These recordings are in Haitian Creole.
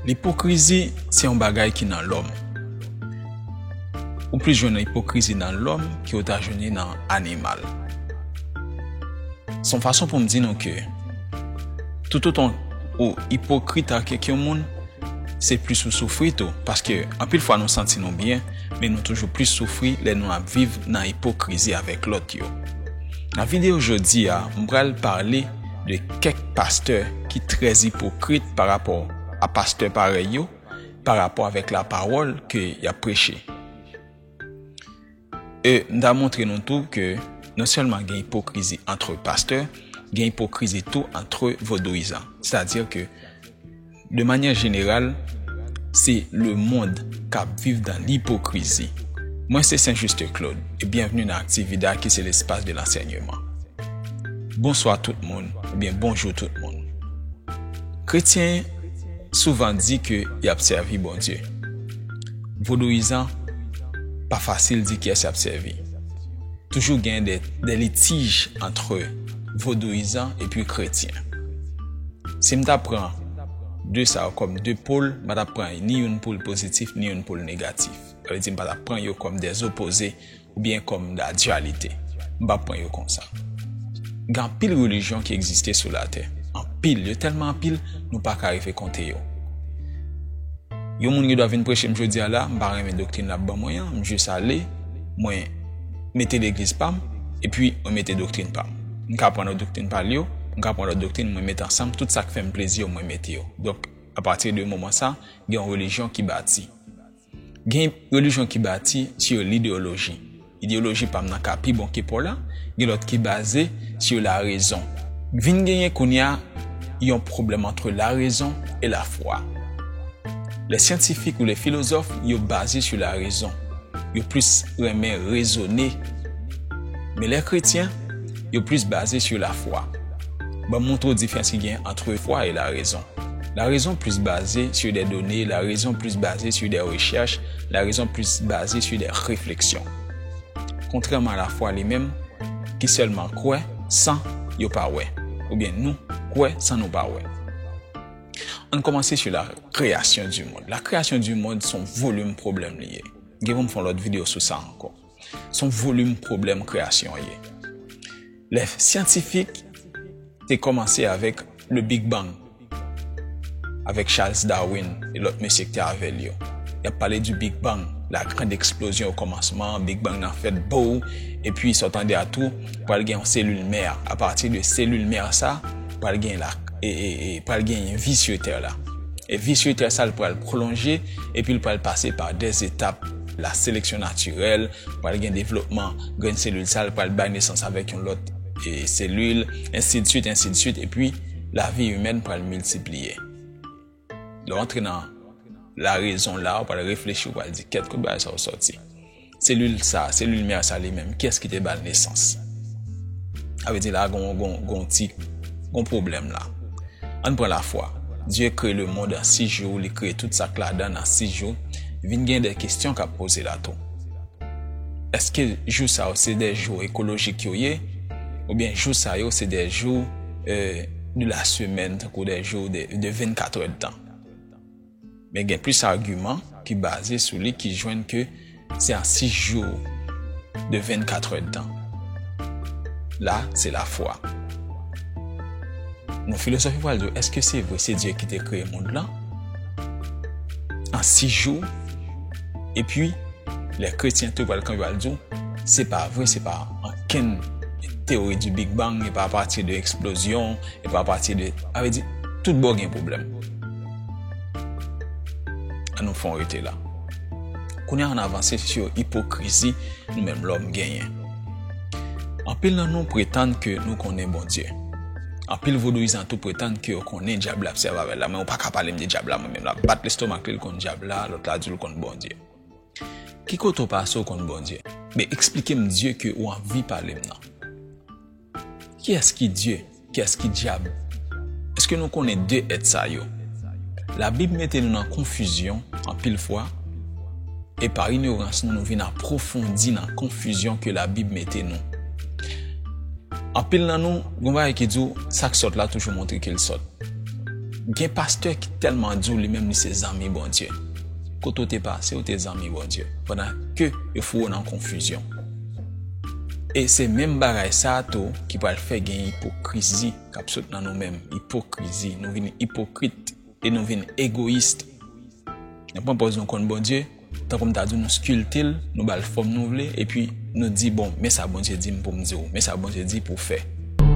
Lipokrizi se yon bagay ki nan lòm. Ou plis jwenn lipokrizi nan lòm ki ou ta jwenn li nan animal. Son fason pou m di nou ke, toutotan ou ipokrit ak kèk yon moun, Se plis ou soufri tou, paske anpil fwa nou santi nou byen, men nou toujou plis soufri lè nou ap viv nan ipokrizi avèk lòt yo. Nan videyo jodi a, m pral pale de kèk pastè ki trè ipokrit pa rapò a pastè parèy yo, pa rapò avèk lapawòl ke y ap preche. E m ta montre nou tou ke non sèlman gen ipokrizi antre pastè, gen ipokrizi tou antre vodouyizan. Sètadi ke de manyè jeneral, se lemond k ap viv dan lipokrizi. Mwen se Sen Juste Claude e byenvni nan Activida ki se lespas de lansègneman. Bonswa tout moun oubyen bonjou tout moun. Kretyen souvan di ke y ap sèvi Bondye. Vodouyizan pa fasil di kiyès yap sèvi. Toujou gen de litij antre vodouyizan epi kretyen. Si m ta pran de sa yo kòm de pol, m pa tap pran ni youn poul pozitif ni youn poul negatif. Sa vle di m pa tap pran yo kòm de opoze. oubyen kòm dadyalite, m pa pran yo konsa. Gen anpil relijyon ki egziste sou latè, anpil, yo tèlman anpil, nou pa ka rive konte yo. Yon moun gen dwa vin preche m jodi a la, m pa renmen doktrin l ap ban mwen an, m jis ale, mwen mete legliz pa m, epi mwen mete doktrin pa m. M ka pran lòt doktrin pa l yo, m ka pran lòt doktrin, mwen mete ansanm, tout sa k fè m plezi yo mwen mete yo. Donk, apati de moman sa, gen yon relijyon ki bati. Gen relijyon ki bati si yo lideyoloji, ideyoloji pam nan ka pi bon ke paw la, gen lòt ki baze si yo la rezon. Vin genyen kounya yon pwoblèm antre la rezon e la fwa. Le syantifik ou le filozòf yo baze si la rezon, yo plis renmen rezone. Men le kretyen. Yo plis baze sou lafwa. Ban m montre w difrans ki gen antre fwa e larezon. Larezon plis baze sou de done, larezon plis baze sou de rechèch, larezon plis baze sou de refleksyon. Kontrèman a lafwa li menm, ki sèlman kwè san yo pa wè, oubyen nou kwè san nou pa wè. An n kòmanse sou la kreyasyon di mond. La kreyasyon di mond s on volim pwoblèm li ye. Gen pou m fè yon lòt videyo sou sa ankò. Son volim pwoblèm kreyasyon an ye. Lè syantifik te kòmanse avèk le Big Bang, avèk Charles Darwin e lòt mesye ki te avè l yo, y ap pale di Big Bang, la grand eksplozyon okòmansman, Big Bang nan fèt bow, epi sa w tande a tou, pral gen yon selil mè, apati de selil mè sa, pral gen la, pral gen yon vis yo tè la. E vis yo tè sa l pral pwolonje, epi l pral pase pa de etap. La seleksyon natirèl, pral gen devlopman, grenn selil sa l pral bay nesans avèk yon lòt selil, ensidsuit, ensidsuit, epi lavi imèn pral miltipliye. Lè w antre nan larezon la, w pral reflechi, w pral di, kèt kote bagay sa yo sòti? Selil sa, selil mè sa li menm, kiyès ki te ba l nesans? Sa vle di la gen yon ti, gen yon pwoblèm la. Ann pran lafwa. Dye kreye lemond an 6 jou, li kreye tout sak ladan l an 6 jou, vin gen de kestyon kap poze la tou. Eske jou sa yo se de jou ekolojik yo ye oubyen jou sa yo se de jou de la semèn tankou de jou de 24 èdtan? Men gen plis agiman ki baze sou li ki jwenn ke se an 6 jou de 24 hèdtan. La, se lafwa. Nou filosof yo pral di w, eske se vre se Dye ki te kreye mond lan an 6 jou? Epi, lè kretyen tou pral kanpe pral di w, se pa vre, se pa ankenn teori di Big Bang, e pa apati de eksplozyon, e pa apati de, sa vle di, tout bò gen pwoblèm. An nou fon rete la. Kounye an avanse sou ipokrizi nou menm lòm genyen. Anpil nan nou pretann ke nou konnen Bondye. Anpil vodouyizan tou pretann ke yo konnen Dyab la ap sèvi avèl la. Men ou pa ka pale m de Dyab la mwen menm. Lap bat lestomak li l konn Dyab la, lòt la di l konn Bondye. Ki kote ou pase ou konn Bondye? Men eksplike m Dye ke ou anvi pale m nan. Kiyès ki Dye? Kiyès ki Dyab? Èske nou konnen de èt sa yo? Labib mete nou nan konfizyon anpil fwa, e pa inyorans nou nou vin apwofondi nan konfizyon ke Labib mete nou. Anpil nan nou, gen yon bagay ki di w, sa k sòt la toujou montre ke l sòt. Gen pastè ki tèlman di w li menm li se zanmi Bondye. Kote w te pase, ou te zanmi Bondye, pandan ke yo foure w nan konfizyon. E se menm bagay sa a tou ki pral fè gen ipokrizi k ap sot nan nou menm. Ipokrizi. Nou vin ipokrit e nou vin egoyis. Nou pran pòz nou konn Bondye, tankou m ta di w nou skilpte l, nou ba l fòm nou vle, epi nou di, bon, men sa Bondye di m pou m di w, men sa Bondye di pou w fè.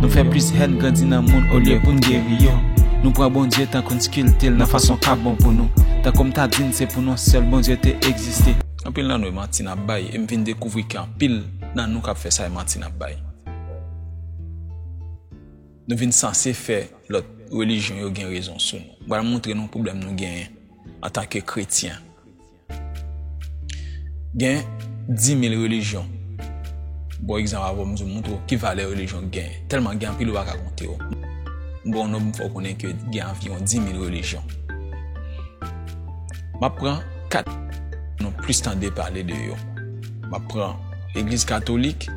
Nou fè plis hèn grandi nan moun olye pou n geri yo. Nou pran Bondye tankou n skilpte l nan fason k ap bon pou nou. Tankou m ta di n se pou nou sèl Bondye te egziste. Anpil nan nou e manti nap bay e m vin dekouvri ke anpil nan nou kap fè sa e manti nap bay. Nou vin sanse fè lòt relijyon yo gen rezon sou nou. M pral montre nou pwoblèm nou genyen antan ke kretyen. Gen 10000 relijyon. M pran egzanp avè w m di w montre w ki valè relijyon genyen. Tèlman gen anpil ou pa ka konte yo. M pran yon nonb m fè w konnen ke gen anviwon 10000 relijyon. Map pran. 4 nou plis tande pale de yo. M ap pran legliz katolik,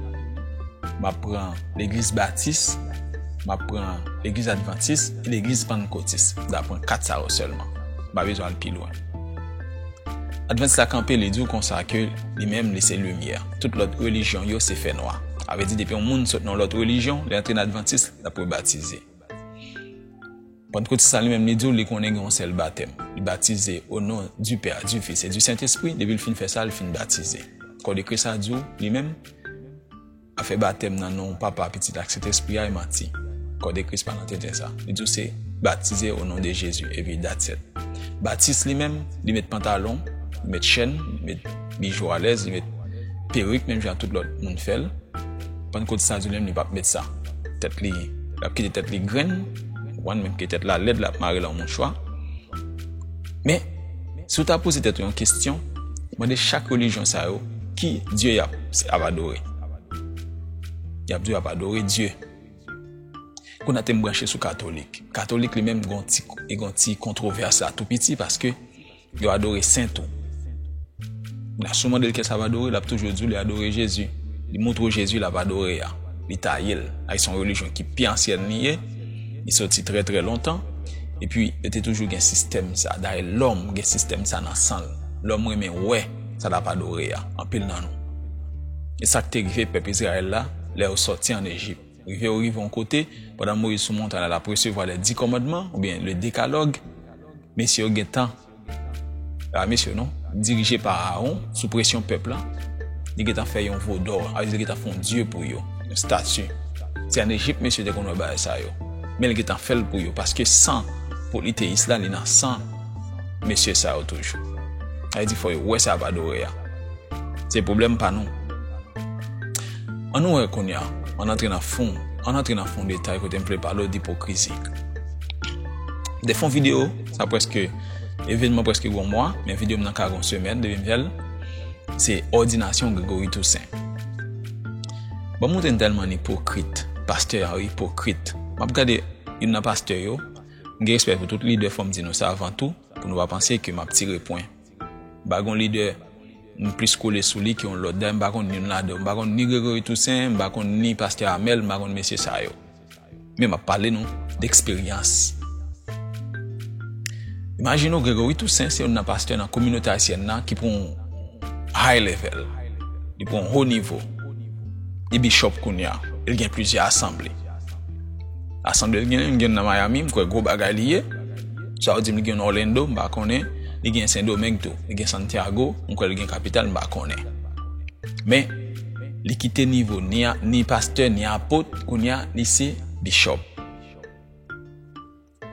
m ap pran legliz batis, m ap pran legliz advantis e legliz pannkotis. M ta pran 4 sa yo sèlman. M pa bezwen al pi lwen. Advantis la kanpe li di w konsa ke li menm li se limyè. Tout lòt relijyon yo se fènwa. Sa vle di depi yon moun sot nan yon lòt relijyon, li antre nan advantis, l ap rebatize. Pantkoti sa li menm li di w li konnen gen yon sèl batèm. Li batize o non di Pè a, di Fis e di Sentespri, depi l fin fè sa, li fin batize. Kò de Kris la di w li menm ap fè batèm nan non Papa, Pitit ak Sentespri a e manti. Kò de Kris pa nan tenten sa. Li di w se batize o non de Jezi epi datsèt. Batis li menm, li met pantalon, li met chèn, li met. Bijou alèz li met perik menm jan tout lòt moun fèl. Pankot Sandy menm li pap met sa. Tèt li, lap kite tèt li grenn. Wan menm ke tèt la lèd lap marel an mouchwa. Men, si w ta poze tèt ou yon kestyon, mande chak relijyon sa yo ki Dye yap ap adore. Yap di w yap adore Dye. Kounya tem branche sou katolik. Katolik li menm gon ti kontrovès la tou piti paske Yo adore sen tou. Nan sou mande l kè sa va adore, l ap toujou di w li adore Jezi. Li moutre w Jezi l ap adore a. Li ta ye l. Ayy se yon relijyon ki pi ansyen li ye. Li soti trè trè lontan. Epi yo te toujou gen sistèm sa. Dayè lòm gen sistèm sa nan san l. Lòm renmen wè sa l ap adore a. Anpil nan nou. E sa k te rive pèp Izrayèl la lè yo soti ann Ejip. Rive yo rive yon kote, pandan Moyiz sou montay la, l ap resevwa lè di kòmandman, oubyen le dekalòg, mesye yo gen tan, se pa mesye non, dirije pa Aawon, sou presyon pèp la, li gen tan fè yon vo dò, sa vle di li gen tan fè yon dye pou yo, yon stati, se an Ejip mesye te konn wè bagay sa yo, men li gen tan fè l pou yo, paske san politeyis la li nan san mesye sa yo toujou, sa vle di fò yo wè sa y ap adore a, se pwoblèm pa nou. An nou wè kounya, an antre nan fon, an antre nan fon detay kote m vle pale w d'ipokrizi. De fon videyo, sa prèske, evenman prèske gon mwa, men videyo m nan ka gon semèn depi m fè l, se òdinasyon Gregory Toussaint. Banm montre n tèlman n ipokrit, pastè a yo ipokrit. M ap gade youn nan pastè yo, m gen respè pou tout lidè fò m di nou sa avan tou, pou nou pa panse ke m ap tire pwen. Bagy yon lidè m plis kole sou li ke yon lòt dayè m pa konn youn ladan yo m pa konn ni Gregory Toussaint m pa konn ni pastè Amel m pa konn mesye sa yo men m ap pale nou de eksperyans imajine w Gregory Toussaint se youn nan pastè nan kominote ayisyèn nan ki pran yon high level li pran yon ho nivo li bishop kounya e l gen plizyè asanble asanble l gen yon m gen youn nan Miami m kwè gwo bagay li ye. Sa ou dim li gen yon Orlando m pa konnen, li gen Sendomeng tou, li gen Santiago, m kwè li gen kapital m pa konnen. Men li kite nivo ni ni pastè ni apot kounye a li se bishop.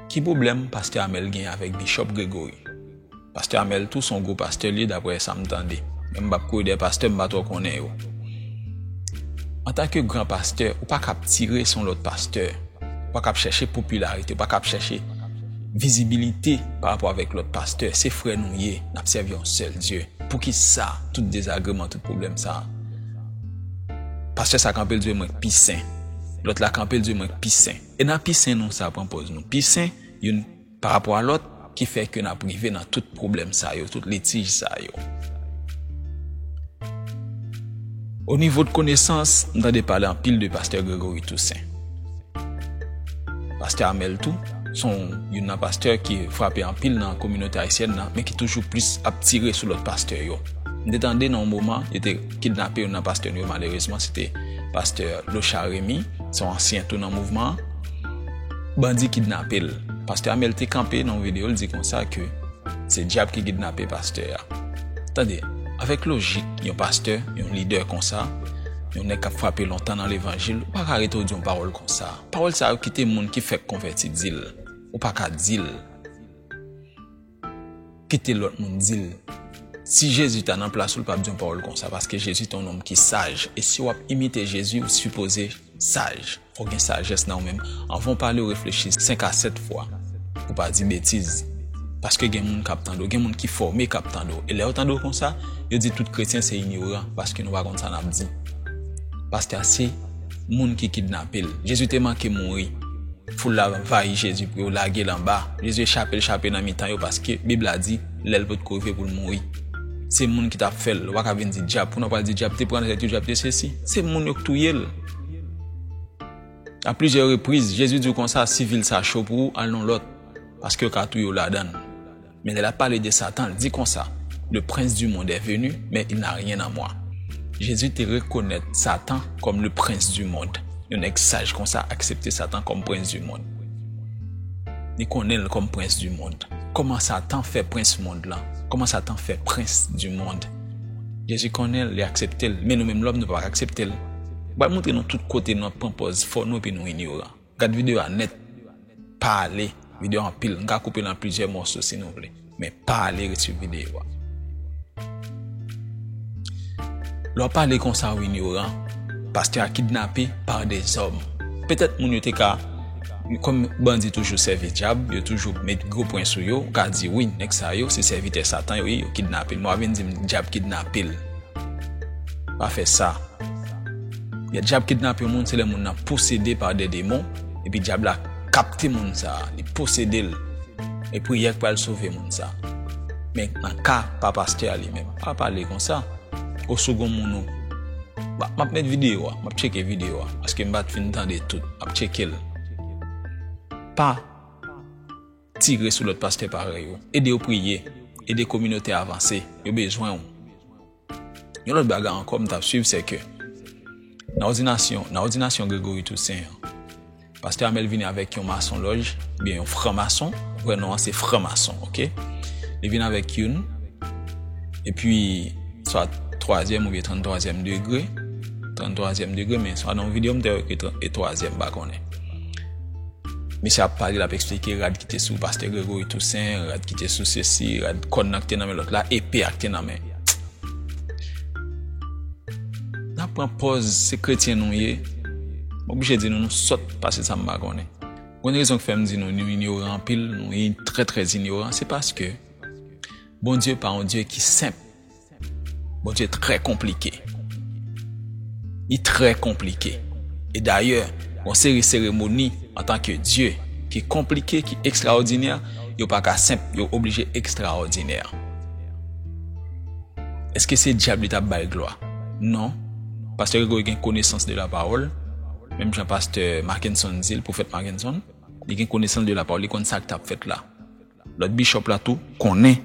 Ki pwoblèm pastè Amel gen avèk bishop Gregory? Pastè Amel tou son gwo pastè li ye daprè sa m tande, men m pap kouri dèyè pastè m pa twò konnen yo. Antanke gran pastè ou paka ap tire son lòt pastè. Ou pa kab chèche popilarite, ou pa kab chèche vizibilite pa rapò avèk lòt pastè. Se frè nou ye, n ap sèvi yon sèl Dye. Poukisa tout dezagreman, tout pwoblèm sa a? Pastè sa kanpe, l di mwen k pi sen. Lòt la kanpe, l di mwen k pi sen. E nan pi sen nou sa pran pòz nou pi sen? Pa rapò a lòt, ki fè ke nap rive nan tout pwoblèm sa yo, tout litij sa yo. O nivo de konesans, m tande pale anpil de Pastè Gregory Toussaint. Pastè Amel tou, son youn nan pastè ki frape anpil nan kominote ayisyèn nan, men ki toujou plis ap tire sou lòt pastè yo. M te tande nan yon moman, yo te kidnape youn nan pastè nou yo, malerezman, se te Pastè Lochard Rémy, son ansyen tou nan mouvman an. Bandi kidnape l. Pastè Amel te kanpe nan yon videyo, l di konsa ke se dyab ki kidnape pastè a. Tande, avèk lojik yon pastè, yon lidè konsa, yon nèg k ap frape lontan nan levanjil, ou pa ka rete ou di yon pawòl konsa. Pawòl sa yo kite moun ki fèk konvèti di l, ou pa ka di l. Kite lòt moun di l. Si Jezi ta nan plas ou l pap di yon pawòl konsa paske Jezi te yon nonm ki saj e si w ap imite Jezi ou sipoze saj, fò w gen sajès nan ou menm. Anvan w pale ou reflechi 5 a 7 fwa pou w pa di betiz paske gen moun k ap tande w, gen moun ki fòme k ap tande w e lè yo tande w konsa yo di tout kretyen se inyoran paske nou pa konn sa n ap di. Pastè a se. moun ki kidnape l. Jezi te manke mouri. Foul la anvayi Jezi pou yo lage l anba. Jezi echape l chape nan mitan yo paske Bib la di, Lè l potko rive pou l mouri. Se moun ki t ap fè l. Ou pa ka vin di Dyab. Kounye w pral di Dyab te pran tèt yo, Dyab te sesi. Se moun yo k touye l. A plizyè repriz, Jezi di yo konsa, Si vil sa cho pou ou, al nan lòt, paske yo ka touye w ladan l. Men lè l ap pale de Satan, l di konsa, Le prince du monde est venu, mais il n'a rien en moi. Jezi te rekonèt Satan kòm le prince du monde. Yon nèg saj konsa aksepte Satan kòm prince du monde. Li konnen l kòm prince du monde. Kòman Satan fè prince monde lan? Kòman Satan fè prince du monde? Jezi konnen l, li aksepte l, men nou menm lòm nou pa ka aksepte l. M pral montre nou tout kote nou ap pran pòz fò nou epi nou inyoran. Gad video a nèt Pa ale Video a anpil Nou ka koupe l an plizyè mòso si nou vle Men pa ale ret swiv video a Lè w ap pale konsa w inyoran Pastè a kidnape pa de zòm Petèt moun yo te ka Kòm bandi toujou sèvi dyab Yo toujou met gwo pwen sou yo Ou ka di wi nèg sa yo se sèvitè satan yo ye Yo kidnape l Men w ap vin di m dyab kidnape l Pa fè sa Lè Dyab kidnape yon moun, se lè moun nan posede pa de demon, epi Dyab la kapte moun sa a, li posede l, e priyè k pral sove moun sa a. Men, nan ka pa pastè a li menm, m pa pale konsa, o si w gen yon moun ou, m ap met videyo a, m ap tcheke videyo a, paske m pa t fin tande tout, m ap tcheke l. Pa tire sou lòt pastè parèy ou, ede yo priye, ede kominote a avanse, yo bezwen ou. Yon lòt bagay ankò m t ap suiv se ke nan òdinasyon, nan òdinasyon Gregory Toussaint an, pastè Amel vini avèk yon masonlòj oubyen yon franmason, vrè non an se franmason ok, li vini avèk youn epi swa twazyèm oubyen tranntwazyèm degre, tranntwazyèm degre men swa nan yon videyo m te wè ke e twazyèm m pa konnen. Misye ap pale l ap esplike rad ki te sou pastè Gregory Toussaint, rad ki te sou sesi, rad kòn nan ki te nan men lòt la, epe a ki te nan men. Nap pran pòz se kretyen nou ye, m oblije di nou nou sòt pase sa m pa konnen. Gwen rezon ki fè m di nou nou inyoran anpil, nou trè trè inyoran se paske Bondye pa yon Dye ki senp. Bondye trè konplike. Li trè konplike. E dayè, yon seri seremoni antan ke Dye ki konplike, ki ekstraòdinè, yo pa ka senp, yo oblije ekstraòdinè. Eske se dyab li tap bay glwa? Non, pastè Gregory gen konesans de la pawòl, menm jan pastè Mackenson di l, pwofèt Mackenson, li gen konesans de la pawòl, li konn sak tap fèt la. Lòt bishop la tou konnen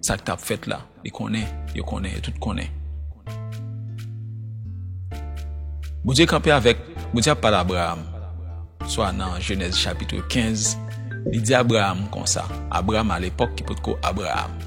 sak tap fèt la, li konnen, yo konnen, yo tout konnen. Bondye kanpe avèk, Bondye ap pale Abraham, swa nan Genèse chapitre 15, li di Abraham konsa, Abraham a lepòk ki potko Abraham.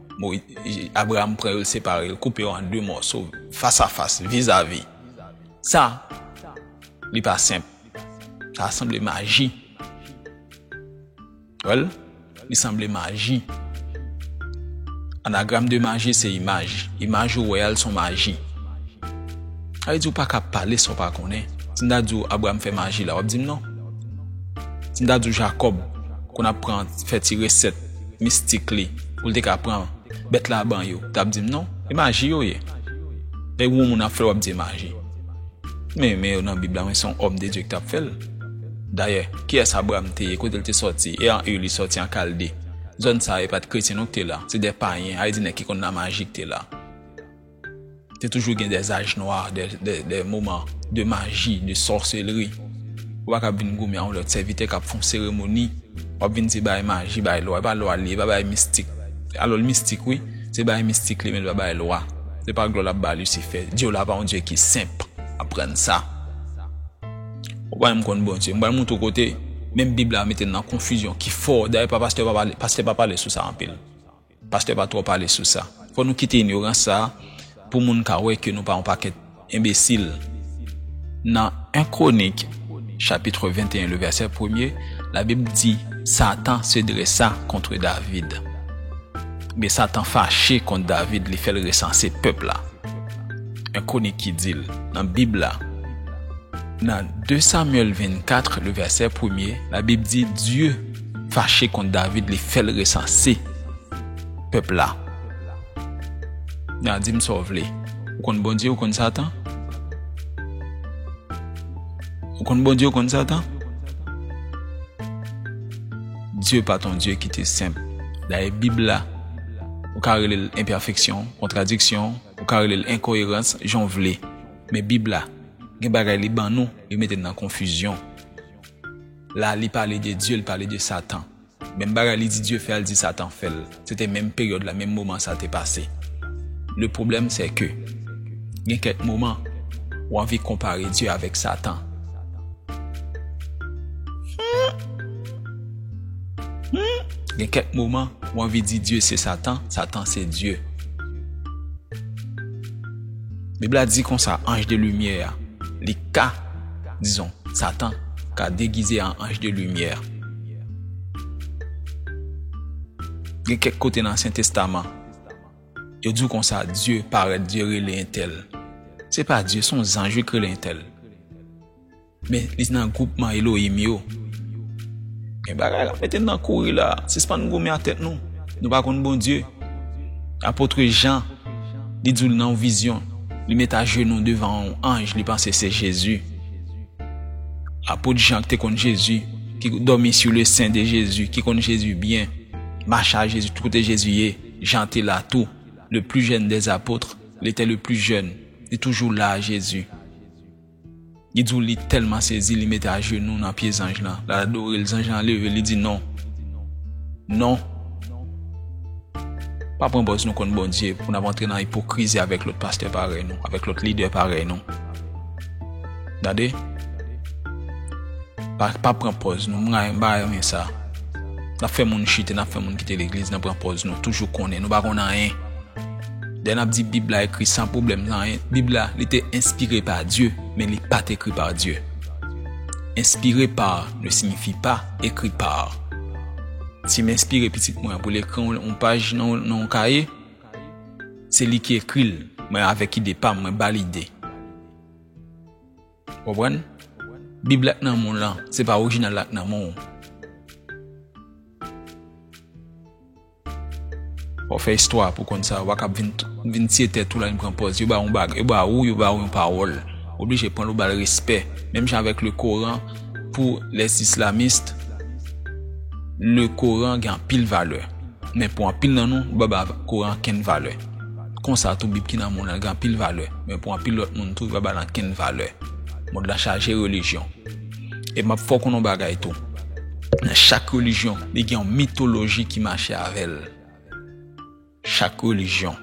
Abraham pran yo, l separe yo, l koupe yo an de mòso, fas a fas, vis a vis. Sa, li pa senp. Sa sanble maji. Wè l? Li sanble maji. Anagram de maji se imaj. Imaj ou wè a, l son maji. Sa vle di ou pa ka pale sa ou pa konnen. Si m ta di ou Abraham fè maji la, w ap di m non. Si m ta di ou Jacob konn ap pran fè ti resèt. mistik li pou l te ka pran bèt la ban yo t ap di m non e maji yo ye lè yon moun ap fè l w ap di e maji men yo men yo nan bib la men se yon òm de Dye ki t ap fè l dayè kiyès Abraram te ye kote l te sòti e an Ur li sòti an Kalde zòn sa yo e pa t kretyen non ki te la se de payen a e di nèg ki konn lamaji ki te la. Te toujou gen des âges noirs, des moments de magie, de sorcellerie. Ou pa kab vin goumen a yon lòt sèvitè kap fè yon seremoni, wap vin di bay maji, bay lwa. E pa lwa li ye, e pa bagay mistik. Alò l mistik wi, se bagay mistik li ye men li pa bagay lwa. Se pa glwa lap bay Lisifè. Dye w la pa yon Dye ki senp. Aprann sa. Ou pa menm konn Bondye. M pral montre w kote menm Bib la mete n nan konfizyon ki fò. Dayè pa pastè pa pale, pastè pa pale sou sa anpil. Pastè pa twò pale sou sa. Fò nou kite inyorans sa pou moun ka wè ke nou pa yon pakèt enbesil. Nan 1 Kronik chapitre 21 le vèsè premye, la Bib di Satan se dressa kontre David. Oubyen Satan fache kont David li fè l resanse pèp la. 1 Kronik ki di l nan Bib la. Nan 2 Samyèl 24 le vèsè premye, la Bib di Dye. fache kont David li fèl resanse pèp la nan dim sa w vle ou konn Bondye ou konn satan ou konn Bondye ou konn satan Dye pa t yon Dye ki te senp dayè bib la ou ka rele l enpèfeksyon kontradiksyon ou ka rele l enkoyerans jan w vle men bib la gen bagay li ban nou li mete n nan konfizyon. la li pale de Dye li pale de satan menm bagay li di Dye fè al di satan fèl se te menm peryòd la menm moman sa te pase le pwoblèm se ke gen kèk moman ou anvi konpare Dye avèk satan gen kèk moman ou anvi di Dye se satan satan se Dye bib la di konsa anj de limyè li ka Dizon, Satan, ka degize an anj de limyè. Gen kèk kote nan Ansyen Testaman, yo di w konsa, Dye parèt, Dye rele entèl. Se pa Dye, se yon zanj wi k rele entèl. Men, li nan gwoupman Elohim yo. Gen bagay l ap mete n nan kouri la a. Sispann goumen ak tèt nou. Nou pa konn Bondye. Apôtre Jean, li di w nan yon vizyon. Li met ajenou devan yon anj li panse se Jezi. Apot Jan ki te konn Jezi, ki dòmi sou le sen de Jezi, ki konn Jezi byen, mache a Jezi tout kote Jezi ye, Jan te la tou, le pli jèn dè zapotre, li te le pli jèn, li toujou la a Jezi. Li di w li tèlman sezi li mete ajenou nan pye zanj lan, lal adore l, zanj lan leve li di non, non, pa pran pòz nou konn Bondye pou n ap antre nan ipokrizi avèk lòt pastè parèy nou, avèk lòt lidè parèy nou. Gade, pa pa pran pòz nou, m ra m pa renmen sa. N ap fè moun chite, n ap fè moun kite legliz nan pran pòz nou toujou konnen, nou pa konn anyen. Lè nap di bib la ekri san pwoblèm nan en bib la li te enspire pa Dye men li pat ekri pa Dye enspire pa ne signifi pa ekri pa sim enspire pitit mwen pou l ekri yon paj nan yon kaye se li ki ekri l mwen avèk ide pam mwen bal ide konprann bib la k nan menw lan se pa orijinal la k nan menw. Fò w fè istwa pou w konn sa, wa k ap vin tiye tèt ou la vin pran pòz, yo ba w yon bagay, yo ba ou, yo ba ou yon pawòl, w oblije pran l ou ba l respè, menm jan avèk le koran pou les islamistes le koran gen anpil valè men pou anpil nan nou nou pa ba koran ankenn valè konsa tou bib ki nan moun lan gen anpil valè men pou anpil lòt moun tou yo pa ba l ankenn valè mond lan chaje relijyon. E map fè w konnen yon bagay tou. Nan chak relijyon, li gen yon mitoloji ki mache avè l. Chak relijyon,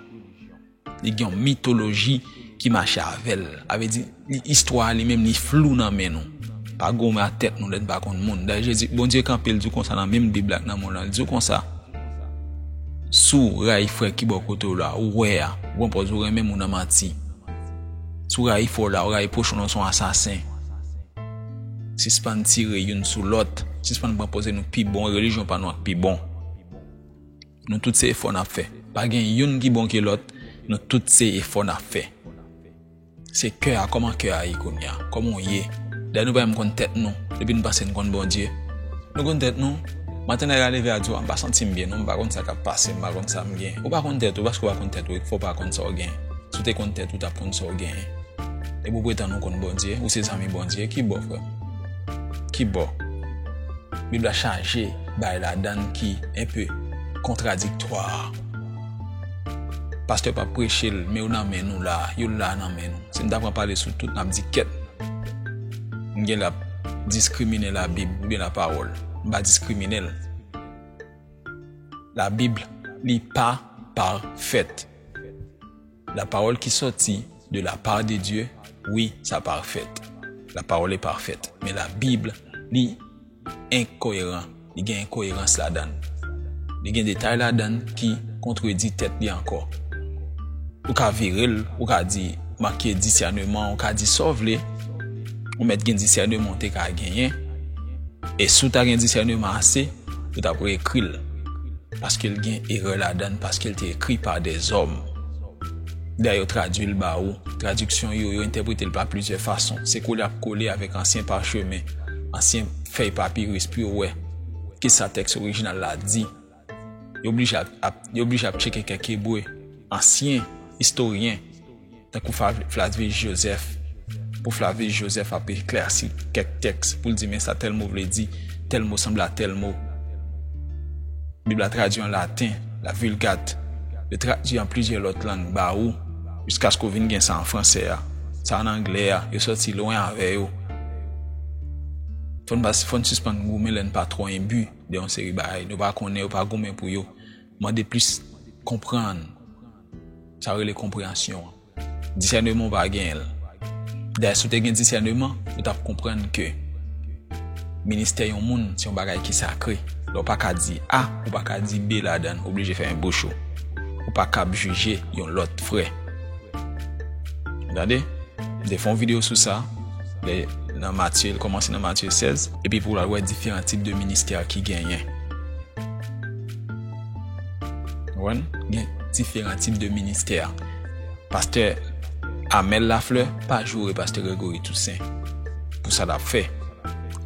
li gen yon mitoloji ki mache avè l. A vle di, li istwa li menm li flou nan men nou. Pa goumen ak tèt nou lè n pa konn moun. Dayè Jezi, Bondye kanpe l di w konsa nan menm bib la ak nan moun lan. Li di w konsa, Si w rayi frè ki bò kote w la, ou wè a, ou pran pòz ou renmen moun an manti. Si w rayi fo la, w rayi pochon lan w se yon asasen. Sispann tire youn sou lòt, sispann pran poze nou pi bon, relijyon pa nou ak pi bon. Nou tout se efò n ap fè. Pa gen youn ki bon ke lòt, nou tout se efò n ap fè. Se kè a, kòman kè a ye kounye a? Kòman w ye? Dayè nou pa menm konn tèt nou, depi nou panse nou konn Bondye. Nou konn tèt nou? Maten lè a leve a di w, m pa santi m byen non, m pa konn sa k ap pase, m pa konn sa m gen. Ou pa konn tèt ou, paske w pa konn tèt ou, e k fè w pa konn sa w gen. Si w te konn tèt ou tap konn sa w genyen. Depi w pretann ou konn Bondye, ou se zanmi Bondye, ki bo frè m? Ki bo? Bib la chaje bagay ladann ki enpe kontradiktwa. Pastè pa preche l men yo nan men nou la, yo la nan men nou. Si m ta pran pale sou tout map di kèt. M genlè ap diskrimine la bib oubyen la pawòl. M pa diskrimine l. La bib li pa pafèt. La pawòl ki sòti de la part de Dieu, wi, sa pafèt. La pawòl e pafèt. Men la Bib, li enkoyeran. Li gen enkoyerans ladan l. Li gen detay ladan l ki kontredi tèt li ankò. Ou ka vire l, ou ka di, manke disèneman, ou ka di sa w vle. Ou mèt gen disèneman ou te ka genyen. E si w ta gen disèneman ase. Yo tap reekri l paske l gen erè ladann paske l te ekri pa dèzòm. Lè yo tradui l ba ou, tradiksyon yo, yo entèprete l pa plizyè fason. Se kole ak kole avèk ansyen pachemen, ansyen fèy papiris pou yo wè ki sa tèks orijinal la di. Yo oblije ap yo oblije ap tcheke kèk Ebre, ansyen istoryen. tankou Flavius Joseph, pou Flavius Joseph ap eklèsi kèk tèks pou l di men sa tèl mo vle di, tèl mo sanble a tèl mo. Bib la tradui an laten, la Vulgate, yo tradui an plizyè lòt lang ba ou, jiskaske ou vin gen sa an fransè a, sa an anglè a, yo sòti lwen avè yo. Fò n sispann goumen lè n pa twò enbi de yon seri bagay nou pa konnen, yo pa goumen pou yo. Mande plis konprann. Sa yo rele konpreyansyon an. Disèneman ou pa genyen l. Dayè si w te gen disèneman, ou t ap konprann ke ministè yon moun se yon bagay ki sakre. Lè w pa ka di A, ou pa ka di B ladan l, ou blije fèmen bouch ou. Ou pa kab jije yon lòt frè. Ou tande? M te fè yon videyo sou sa lè nan Matye, l kòmanse nan Matye 16. Epi pou w al wè diferan tip de ministè ki genyen. Konprann? Gen diferan tip de ministè. Pastè Amel Lafleur pa joure Pastè Gregory Toussaint pou sa lap fè.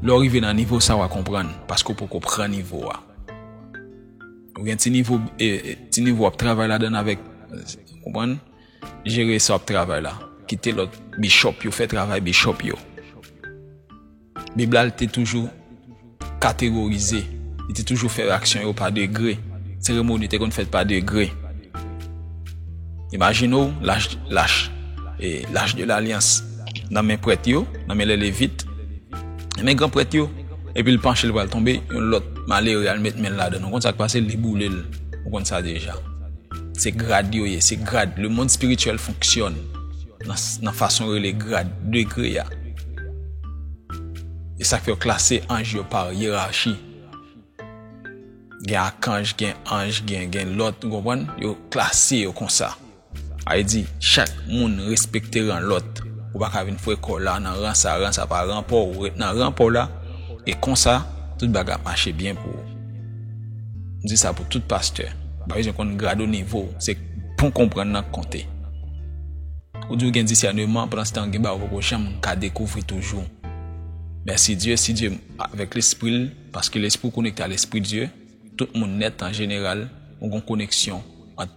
Lè w rive nan nivo sa w a konprann paske w poko pran nivo a. Ou gen ti nivo ti nivo w ap travay ladann avèk konprann? Jere sa w ap travay la. Kite lòt bishop yo fè travay bishop yo. Bib la li te toujou kategorize, li te toujou fè aksyon yo pa degre, seremoni te konn fèt pa degre. Imajine w lach, lach, e lach de lalyans nan men prèt yo, nan men lè levit, nan men gran prèt yo, epi l panche l pral tonbe, yon lòt malere al met men l ladan l, ou konn sa k pase, li boule l, ou konn sa deja. Se grad yo ye, se grad, le mond spirityèl fonksyòn nan fason rele grad, degre a. E sa k fè yo klase anj yo pa yerachi. Gen akanj, gen anj, gen lòt, nou konprann? Yo klase yo konsa. A e di, chak moun respekte ran lòt. Ou pa ka vin fwe kò w la nan ran sa, ran sa pa ran pa w. Ou ret nan ran pa w la, e konsa, tout bagay ap mache byen pou ou. M di sa pou tout pastè, ou pa bezwen konn grad ou nivo w, se bon konprann nan k konte. Ou di ou gen disèneman, pandanstan gen bagay ou poko janm ka dekouvri toujou. Mèsi Dye, si Dye avèk lespri l, paske lespri w konekte a lespri Dye, tout moun nèt an jeneral, ou gon koneksyon ant.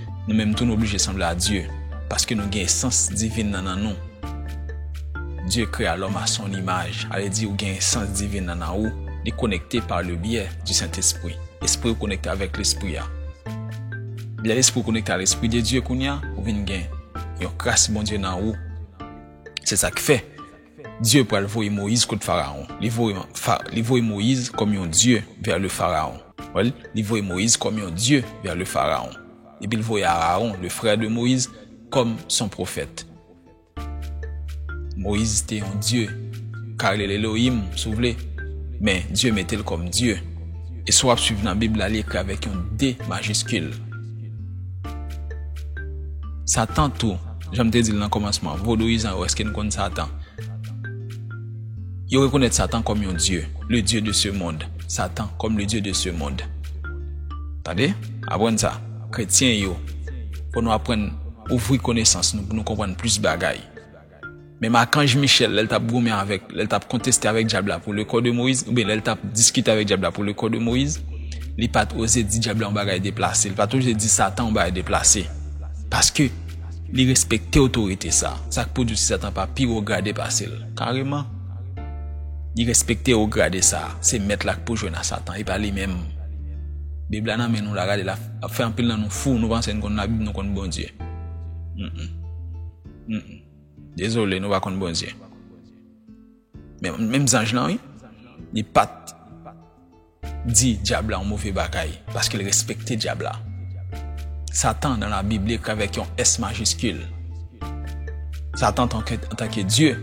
Nou menm tou nou oblije sanble a Dye, paske nou gen esans divin nan nan nou. Dye krea lòm a son imaj, ale di ou gen esans divin nan nan ou, li konekte pa le byè di Sentespri. Espri ou konekte avèk Lespri a. Lè lespri ou konekte a Lespri de Dye kounya, ou vin gen yon kras Bondye nan ou. Se sa k fè. Dye pral voye Moyiz kot Farawon. Li voye, li voye Moyiz kòm yon dye vè le Farawon. Wè l? Li voye Moyiz kòm yon dye vè le Farawon. Epi l voye Arawon, le frè de Moyiz, kòm son pwofèt. Moyiz te yon dye. Ka rele l Elohim, si w vle. Men, Dye mete l kòm dye. E si w ap suiv nan Bib la, li ekri avèk yon D majiskil. Satan tou. Jan m te di l nan kòmansman an, vodouyizan yo, èske nou konn Satan? Yo rekonèt Satan kòm yon dye, le dieu de ce monde, Satan comme le dieu de ce monde. Tande, aprann sa, kretyen yo, fò nou aprann ouvri konesans nou pou nou konprann plis bagay. Menm akanj Michèl, lè l t ap goumen avèk, lè l t ap konteste avèk Dyab la pou lekò de Moyiz, oubyen lè l t ap diskite avèk Dyab la pou lekò de Moyiz, li pa t oze di Dyab la yon bagay deplase, li pa t oze di Satan yon bagay deplase. Paske, li respekte otorite sa a. Sa k pou di w si Satan pa pi wo grade pase l? Kareman! Li respekte wo grade sa a. Se Mèt la k pou jwenn a Satan, e pa li menm. Bib la nan men nou la, gade l ap fè anpil nan nou fou, nou panse n konn Labib, nou konn Bondye. Mh. Mh. Dezole nou pa konn Bondye. Men menm zanj lan wi, li pat di dyab la yon move bagay paske l respekte dyab la. Satan nan la bib li ekri avèk yon S majiskil. Satan antanke Dye,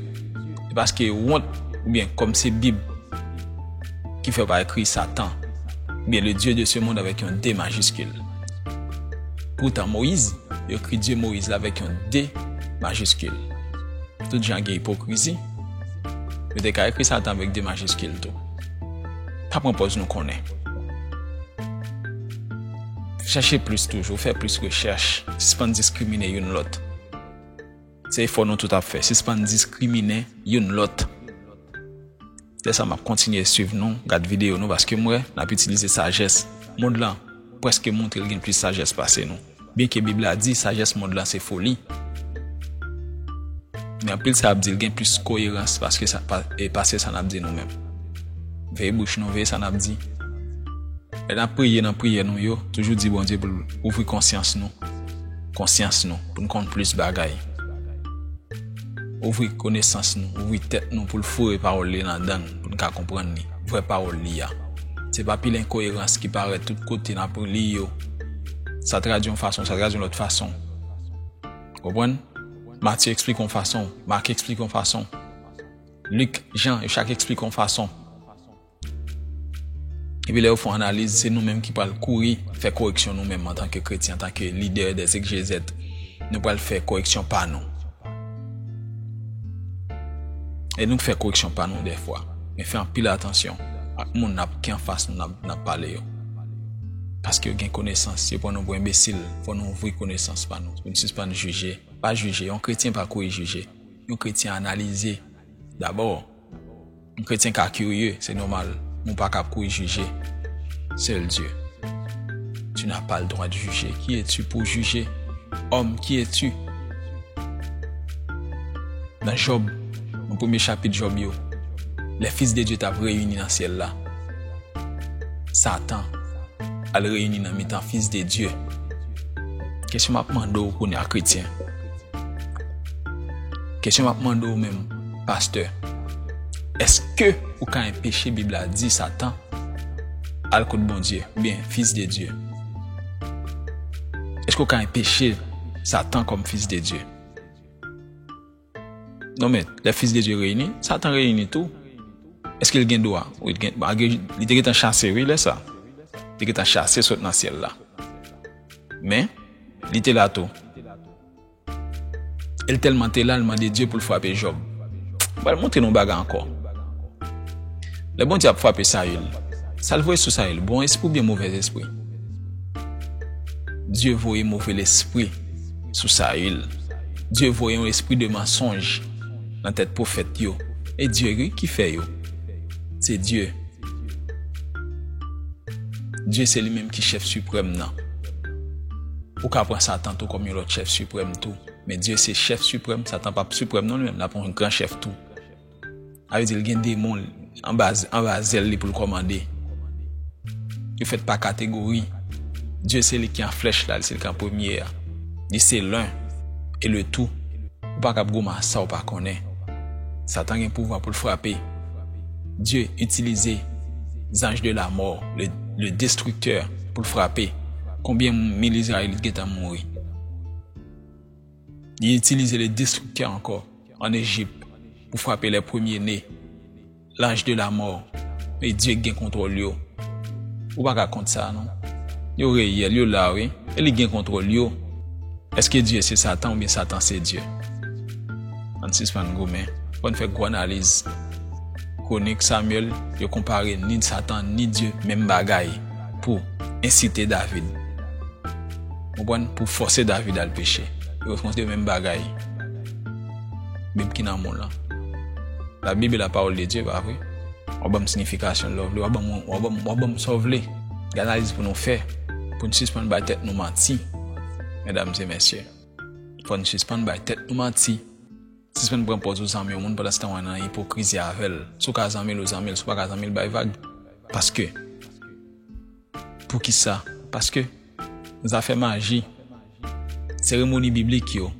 se paske wont oubyen kòm se bib ki fè yo pa ekri satan oubyen le Dieu de ce monde avèk yon D majiskil. Poutan Moyiz, yo ekri Dye Moyiz la avèk yon D majiskil. Tout jan gen ipokrizi, yo te ka ekri Satan avèk D majiskil tou. Pa pran pòz nou konnen. Chèche plis toujou, fè plis rechèch, sispann diskrimine youn lòt. Se efò nou tout ap fè, sispann diskrimine youn lòt. Lè sa map kontinye swiv nou, gad video nou paske m wè nap itilize sajès mond lan preske moutre l gen plis sajès pase nou. Byen ke bib la di sajès mond lan se foli men anpil sa yap di l gen plis koyerans paske sa pase sa nap di nou menm. Veye bouch nou, veye sa nap di. Lè nap priye nan priyè nou yo toujou di Bondye pou l ouvri konsyans nou, konsyans nou pou n konn plis bagay. Ouvri konesans nou, ouvri tèt nou pou l foure pawòl li nan dan n, pou n ka konprann li, vrè pawòl li a. Se pa pil enkoyerans ki parèt tout kote n ap li yo, sa tradi yon fason, sa tradi yon lòt fason. Ou konprann? Matye eksplike yon fason, Mak eksplike yon fason, Lik, Jan, yo chak eksplike yon fason. Epi lè yo fon analiz, se nou menm ki pral kouri fè koreksyon nou menm antanke kretyen, antanke lidè dè egzegèt, nou pral fè koreksyon pa nou. E nou k fè koreksyon pa nou dèfwa. Men fè anpil atansyon ak moun nap ki anfas nou nap pale yo. Paske yo gen konesans, yo pran nou pou enbesil, fò nou ouvri konesans pa nou, pou n sispann jije, pa jije, yon kretyen pa kouri jije, yon kretyen analize dabò. Yon kretyen ka kirye, se nòmal, men w pa ka kouri jije. Sèl Dye. Tu n'as pas le droit de juger. Ki e tu pou w jije? Òm, ki e tu? Nan Jòb, nan premye chapit Jòb yo, lè fis de Dye t ap reyini nan syèl la, Satan al reyini nan mitan fis de Dye. Kesyon m ap mande w kounye a, kretyen. Kesyon map mande ou menm pastè eske ou ka enpeche bib la di satan al kot Bondye oubyen fils de Dieu eske ou ka enpeche satan kom fils de Dieu non men lè fils de Dieu reyini satan reyini tou eske li gen dwa li te gentan chase wi lè sa li te gentan chase sot nan syèl la. Men, li te la tou. E l tèlman te la, l mande Dye pou l frape Jòb. M pral montre nou yon bagay ankò. Lè Bondye ap frape Sayil, sa l voye sou Sayil, bon espri oubyen movèz espri? Dye voye move lespri sou Sayil. Dye voye yon espri de mansonj nan tèt pwofèt yo. E Dye ki fè yo. Se Dye. Dye se li menm ki chèf siprèm nan. Ou ka pran Satan tou kòm yon lòt chèf siprèm tou. Men Dye se chèf siprèm, Satan pa siprèm non li menm, l ap yon gran chèf tou. A vle di l gen demon l anba zèl li pou l kòmande. Yo fèt pa kategori. Dye se li ki an flèch la, li se li ki an premye a. Li se len e le tou. Ou pa kab goumen ak sa ou pa konnen. Satan gen pouvwa pou l frape. Dye itilize zanj de la mò le destriktè pou l frape konbyen mil izrayelit gentan mouri li itilize le destriktè ankò an ejip pou frape lè premye ne laj de la mò e Dye gen kontwòl yo ou pa ka kont sa non yo reyèl yo la wi e li gen kontwòl yo eske Dye se satan oubyen satan se Dye. Ann sispann goumen. Fò n fè gwo analiz. Kwonik Samyèl yo konpare ni Satan ni Dye menm bagay pou ensite David. Konprann? Pou fòse David al peche. Yo reprezante menm bagay. Bib ki nan moun lan. La Bible est la parole de Dieu, pa vre? Ou a ban m sinifikasyon love li, ou a ban m, ou a ban m, ou a ban m sa w vle. Gen analiz pou nou fè pou n sispann bay tèt nou manti, medam e mesye. Fò n sispann bay tèt nou manti. Sispann pran pòz ou zanmi yon moun pandanstan w an nan ipokrizi avè l. Si w ka zanmi l, ou zanmi l. Si w pa ka zanmi l, bay vag. Paske. Poukisa? Paske. Zafè maji. Seremoni biblik yo.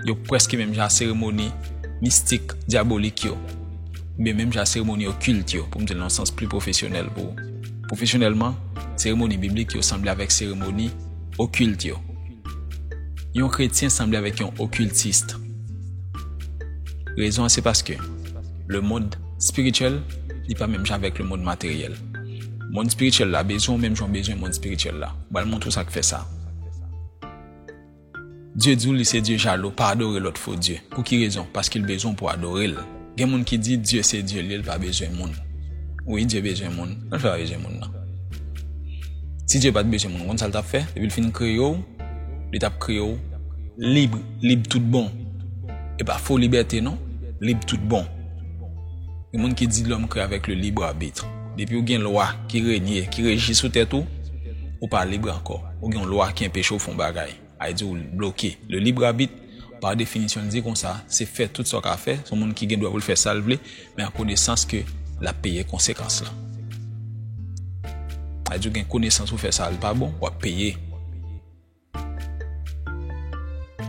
Yo prèske menm jan a seremoni mistik, dyabolik yo. Oubyen menm jan a seremoni okilt yo, pou m di l nan yon sans pli pwofesyonèl pou ou. Pwofesyonèlman, seremoni biblik yo sanble avèk seremoni okilt yo. Yon kretyen sanble avèk yon okiltist. Rezon an se paske lemond espirityèl li pa menm jan avèk lemond materyèl. Mond espirityèl la bezwen w menm jan w bezwen mond espirityèl la. M pral montre w sa k fè sa. Dye di w li se Dye jalou, pa adore lòt fo dye. Pou ki rezon? Paske l bezwen w pou w adore l. Gen moun ki di Dye se Dye li, li pa bezwen moun. Wi, Dye bezwen moun. Kòman l fè pa bezwen moun nan? Si Dye pa t bezwen moun, ou konn sa l t ap fè? Depi l fin kreye w, li t ap kreye w lib, lib tout bon. E pa fo libète non, lib tout bon. Gen moun ki di lòm kreye avèk le lib abitre. Depi w gen lwa ki renye, ki reji sou tèt ou, ou pa lib ankò. Ou gen yon lwa ki enpeche w fè yon bagay. Li di w li bloke. Le libre arbitre, pa definisyon li di konsa, se fè tout sa w ka fè, se yon moun ki gen dwa pou l fè sa l vle, men an konesans ke l ap peye konsekans lan. Li di w gen konesans pou fè sa l pa bon, w ap peye.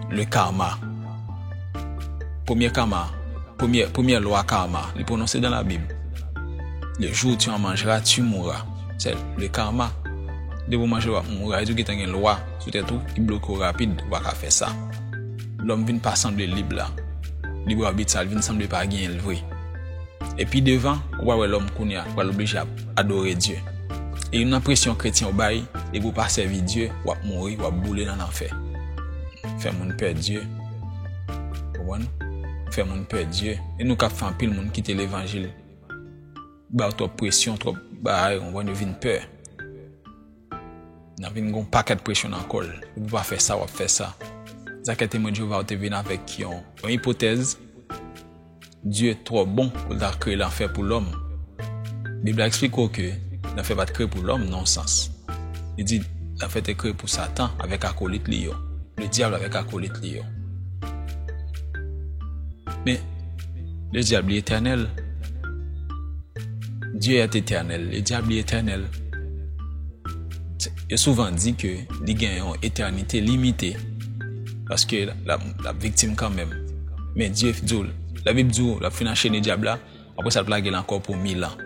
Le karma. Premye karma, premye lwa karma, li pwononse dan la bib. Le jou tu an manjera, tu moura. Se le karma. Depi w manje l w ap mouri. Li di w gentan gen lwa. sou tèt ou ki bloke w rapid ou pa ka fè sa. Lòm vin pa sanble lib la. Lib abit sa l vin sanble pa genyen l vre. E pi devan, ou pral wè lòm kounye a pral oblije ap adore Dye. E youn nan presyon kretyen yo bay, depi w pa sèvi Dye, w ap mouri, w ap boule nan lanfè. Fè moun pè Dye. Konprann? Fè moun pè Dye. E nou k ap fè anpil moun kite levanjil. Ba yo twòp presyon, twòp bagay, konprann, yo vin pè. Nan vin gen yon pakèt presyon nan kò l. Ou pou pa fè sa, w ap fè sa. Zakè Temwen Jewova yo te vin avèk yon ipotèz, Dye twò bon pou l ta kreye lanfè pou lòm. Bib la esplike w ke lanfè pa t kreye pou lòm nan yon sans. Li di, Lanfè te kreye pou Satan avèk akolit li yo, Ledyab avèk akolit li yo. Men, Le diable li etènèl Dieu est éternel Le diable li etènèl Yo souvan di ke li gen yon etènite limite Paske l ap viktim kanmenm Men Dieu di w La Bib di w l ap fin anchene dyab la Apre sa l ap lage l ankò pou mil an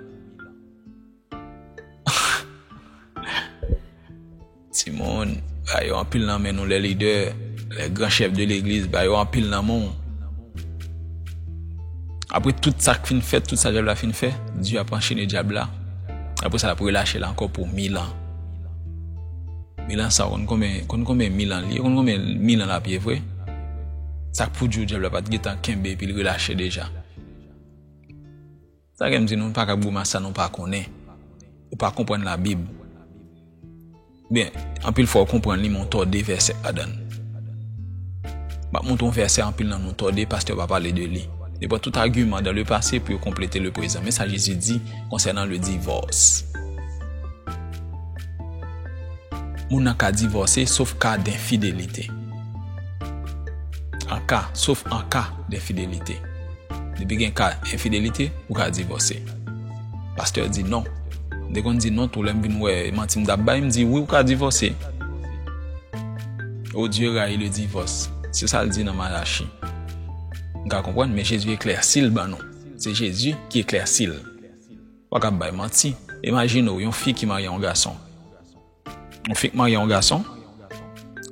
Ti moun, ba yo anpil nan men nou lè lidè, lè gran chèf de legliz, ba yo anpil nan men ou. Apre tout sa k fin fèt, tout sa dyab la fin fè, Dye ap anchene dyab la. Apre sa l ap relache l ankò pou mil an. Mil an sa w konn konben, konn konben mil an li ye, konn konben mil an l ap ye vre. Sa k pou di w dyab la pa t gen tan kenbe epi l relache deja. Sa kèm di nou paka ap grimas sa nou pa konnen ou pa konprann la bib ou byen anpil fwa ou konprann li men ou tòde vèsè ladann map montre yon vèsè anpil nan nou tòde pastè yo pa pale de li yo pran tout agiman dan le pase pou yo konplete le prezan men sa jezi di konsènan le divòs moun nan ka divòse sof ka de enfidelite anka sof anka de enfidelite Depi gen ka enfidelite, ou ka divòse. Pastè di non. M te konn di non tou lè m vin wè e manti m t ap bay, m di wi ou ka divòse. O Dye rayi le divòs, se sa l di nan Malachi. M ka konprann men Jezi eklèsi l ban nou. Se Jezi ki eklèsi l. Ou pa ka ap bay manti. Imajine w yon fi ki marye yon gason. Mwen fenk marye yon gason,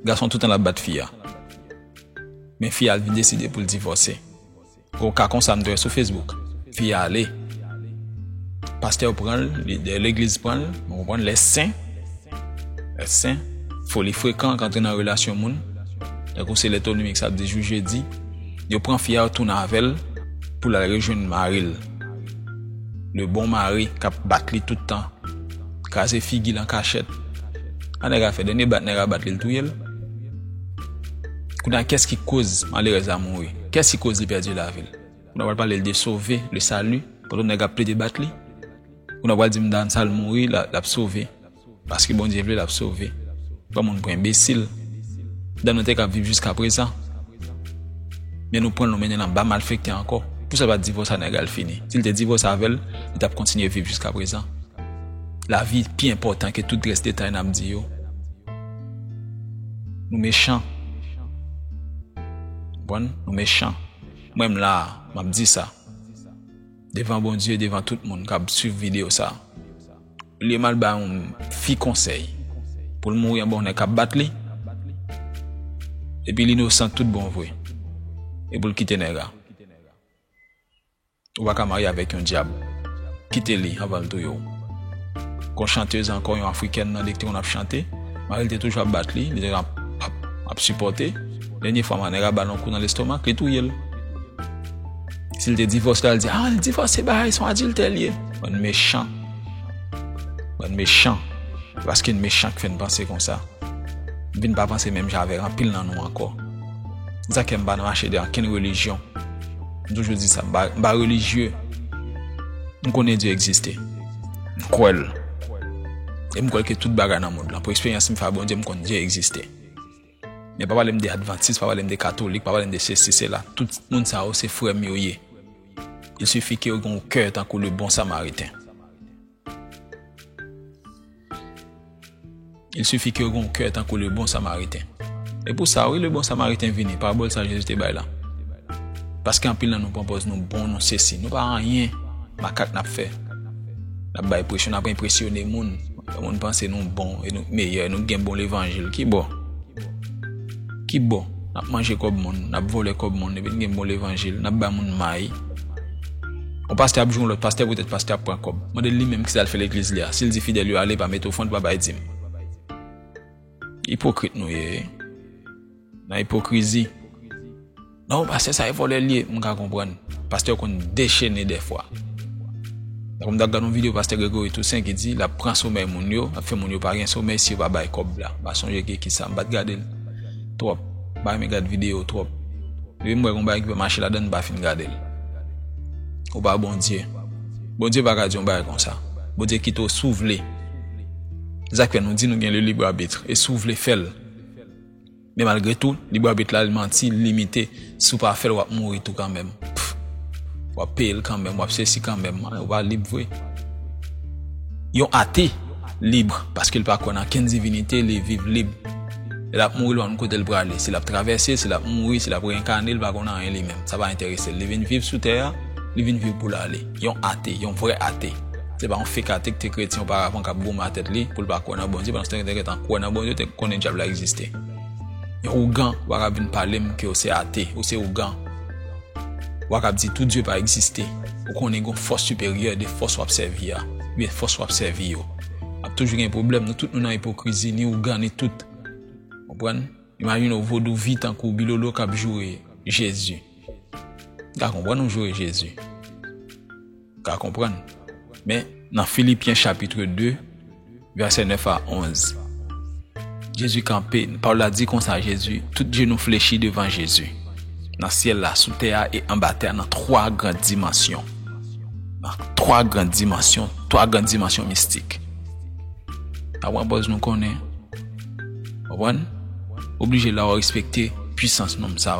gason toutan lap bat fi a. Men fi a vin deside pou l divòse. Pou ka konsa m te wè sou Facebook. Fi a ale. Pastè yo pran l, lidè legliz pran l, mwen konprann lè sen. Lè sen. Foli frekan k antre nan relasyon moun. Lè kou se lè tonimik sa ap di jou jedi. Yo pran fi a yo tounen avè l pou l al rejwenn mari l. Le bon mari k ap bat li tout tan. kraze figil an kachèt sa nèg a fè dènye bat nèg a bat li l touyel kounya kès ki koz malerèz la mouri kès ki koz li pèdi lavil nou pral pale de sove le sali pandan nèg ap plede bat li ou nan pral di m dan sal mouri lap sove paske bondye vle lap sove pran moun pou enbesil dan nou te kap viv jiska prezan men nou pran l nou mennen l anba malfekte ankò pousal pat divòse a nèg la l fini sil te divòse avèl li tap kontinye viv jiska prezan. Lavi pi enpòtan ke tout rès detay nap di yo. Nou mechan. Konprann? Nou mechan. Mwen m la a, map di sa. Devan Bondye, devan tout moun kap swiv video sa. Olye m al bay yon fi konsèy pou l mouri anba yon nèg kap bat li, epi l inosan tout bon vre, e pou l kite nèg la. Ou pa ka marye avèk yon dyab. Kite li anvan l touye w. Gon chantez ankò yon afrikèn nan li k te konn ap chante, mari l te toujou ap bat li, li te ap ap sipòte, dènye fwa man nèg a ba l yon kou nan lestomak, li touye l. Si l te divòse l al di ah li divòse bay son adiltè l ye. Bann mechan. Bann mechan. Se paske n mechan k fè n panse konsa. M vin pa panse menm jan avèk anpil nan nou ankò. Se sa k fè m pa nan mache de ankenn relijyon. M toujou di sa, m pa relijye, m konnen Dye egziste, m kwè l, e m kwè ke tout bagay nan mond lan, pou eksperyans m fè ak Bondye, m konnen Dye egziste. Men pa pale m de advantis, pa pale m de katolik, pa pale m de sesi, sela, tout moun sa yo se frè m yo ye. Il sifi ke yo gen yon kè tankou le bon samariten. Il suffit ke w gen yon kè tankou le bon samariten. E pou sa wi le bon samariten vini, parabòl sa Jezi te bay la. Paske anpil nan nou pran pòz nou bon, nou sesi, nou pa anyen, makak n ap fè. N ap bay presyon, n ap enpresyone moun, fè moun panse nou bon, e nou k meyè, nou k gen bon levanjil. Ki bo? Ki bo? Nap manje kob moun, nap vole kob moun epi n gen mo levanjil, nap bay moun may. Yon pastè ap jwe yon lot pastè poutet pastè ap pran kob. Mande l li menm kisa l fè legliz li a. Si l di fidèl yo ale pa mete ofrand pa bay dim. Ipokrit nou ye wi. Nan ipokrizi. Non pastè sa e vòlè li ye, m ka konprann. Pastè yo konn dechene dèfwa. Tankou m tap gad yon video pastè Gregory Toussaint ki di lap pran somèy moun yo, lap fè moun yo pa gen somèy si yo pa bay kòb la. M pa sonje ki ekip sa, m pat gade l twòp. M pa renmen gad video twòp. Depi m wè gen yon bagay ki pa mache ladan m pa fin gade l. Ou pa Bondye. Bondye pa ka di yon bagay konsa. Bondye kite w si w vle. Se sak fè nou di nou gen le libre arbitre e si w vle fè l. Men malgre tou lib abit la li manti li limite si w pa fè l wap mouri tou kanmenm pff wap peye l kanmenm wap sesi kanmenm an ou pa lib vre yon ate lib paske l pa kwè nan kenn divinite li viv lib lè lap mouri l pa konn kote l prale si lap travèse si lap mouri si lap renkane l pa konn anyen li menm sa pa enterese l li vin viv sou tè a li vin viv pou l ale. Yon ate, yon vrè ate, se pa yon fake ate ki te kretyen oparavan k ap goumen a tèt li pou l pa kwè nan Bondye pandan se tan li te gentan kwè nan Bondye, li te konnen Dyab la egziste. Yon ougan, ou pa kab vin pale m ke ou se ate, ou se ougan. Ou pa kab di tou Dye pa egziste. Ou konnen gen yon fòs siperyè de fòs w ap sèvi a, oubyen fòs w ap sèvi yo. Ap toujou gen pwoblèm, nou tout nou nan ipokrizi, ni ougan ni tout. Konprann? Imajine w vodouvi tankou Bilolo k ap joure Jezi. Ka konprann ou joure Jezi. Ka konprann. Men, nan Filipyen chapitre 2, vèsè 9 a 11, Jezi kanpe, pawòl la di konsa, Jezi, tout jenou flechi devan Jezi, nan syèl la, sou tè a, e anba tè a, nan twa gran dimansyon. Nan twa gran dimansyon, twa gran dimansyon mistik. Pa pran pòz nou konnen. Konprann? Oblije la ou respekte pwisans nonm sa.